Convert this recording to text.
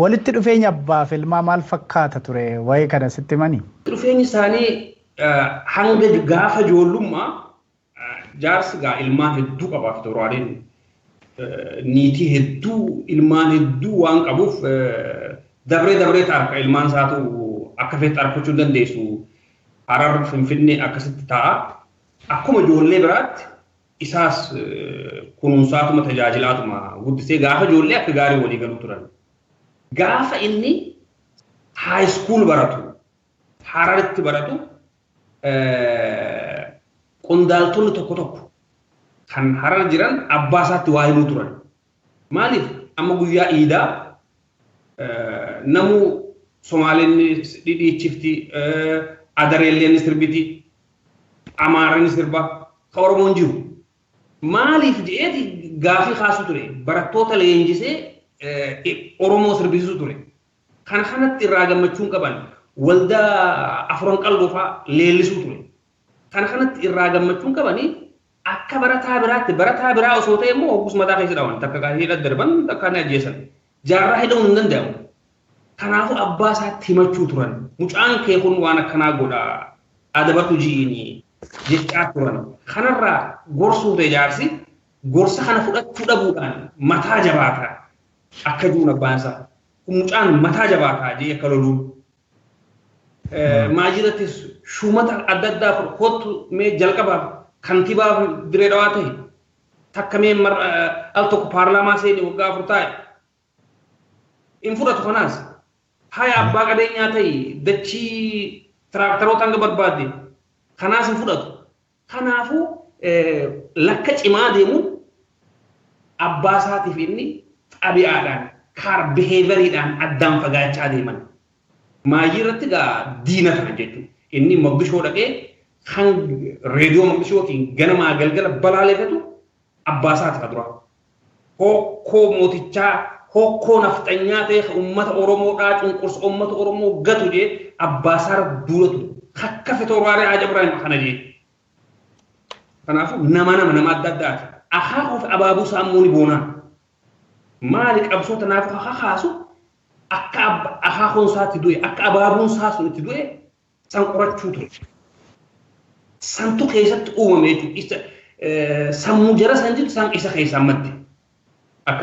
Walitti dhufeenya abbaa fi ilmaa maal fakkaata ture? Wa'ee kana sitti himani? Dhufeenyi isaanii hanga gaafa joollummaa jaarsi gaa ilmaan hedduu qabaa fi toroaadeen niitii hedduu ilmaan hedduu waan qabuuf dabree dabree taarka ilmaan isaatu akka feetti argachuu dandeessu harar finfinnee akkasitti ta'a. Akkuma ijoollee biraatti isaas kunuunsaatuma tajaajilaatuma guddisee gaafa ijoollee akka gaarii walii galu turan. Gaafa inni haayiskuul baratu hararitti baratu qondaaltonni tokko tokko kan harar jiran abbaa isaatti waa himuu turan. Maaliif amma guyyaa iidaa namuu Somaaleen dhidhiichifti, Adareelleen ni sirbiti, Amaarri ni sirba, ka Oromoon jiru. Maaliif jedheeti gaafii kaasuu ture. Barattoota leenjisee Oromoo sirbisiisuu ture. Kana kanatti irraa gammachuun qaban waldaa afuran qalloofaa leellisuu ture. Kana kanatti irraa gammachuun qabanii Akka barataa biraatti barataa biraa osoo ta'e immoo hoggus mataa keessa dhawan takka kan hidha darban takka ni ajjeesan. Jaarraa hidhamuun hin danda'amu. Kanaafuu abbaa isaatti himachuu turan. Mucaan kee kun waan akkanaa godha adabadhu ji'iini jechaa turan. Kanarraa gorsuu ta'e jaarsi gorsa kana fudhachuu dhabuudhaan mataa jabaata akka jiruun abbaan isaa. Kun mucaan mataa jabaata jee akka loluun Maajirattis shuumata adda addaa fudhu kottu mee jalqabaaf kantibaa diree dhawaa ta'e takka mee al tokko paarlaamaa seeni waggaa afur taa'e hin fudhatu kanaas haya abbaa qabeenyaa ta'e dachii tiraaktaroota hanga barbaadde kanaas hin fudhatu Kanaafuu lakka cimaa deemuun abbaa isaatiif inni xabi'aadhaan, kaar behavior-dhaan addaan fagaachaa deeman. Maayyii irratti egaa diina tahan jechuudha. Inni Moqdishoo dhaqee kan reediyoo Moqdishootiin ganamaa galgala balaaleefatu abbaa isaati ka duraa. Hokkoo mootichaa, hokkoo nafxanyaa ta'e ka uummata Oromoo dhaa cunqursa uummata Oromoo gatu jee abbaa isaa duula ture. Akka fitooraalee Haaj Ibraahim kana jee. Kanaafuu nama nama nama adda addaati. Akaakuu fi abaabuu isaa immoo ni boonaa. Maali qabsoo tanaafuu kakaasu akka akaakuun isaa itti du'e, akka abaabuun isaa sun itti du'e San qorachuu ture. Santu keessatti uumame jechuudha. Sammuu jara san jirtu san isa keessaa madde. Akkas.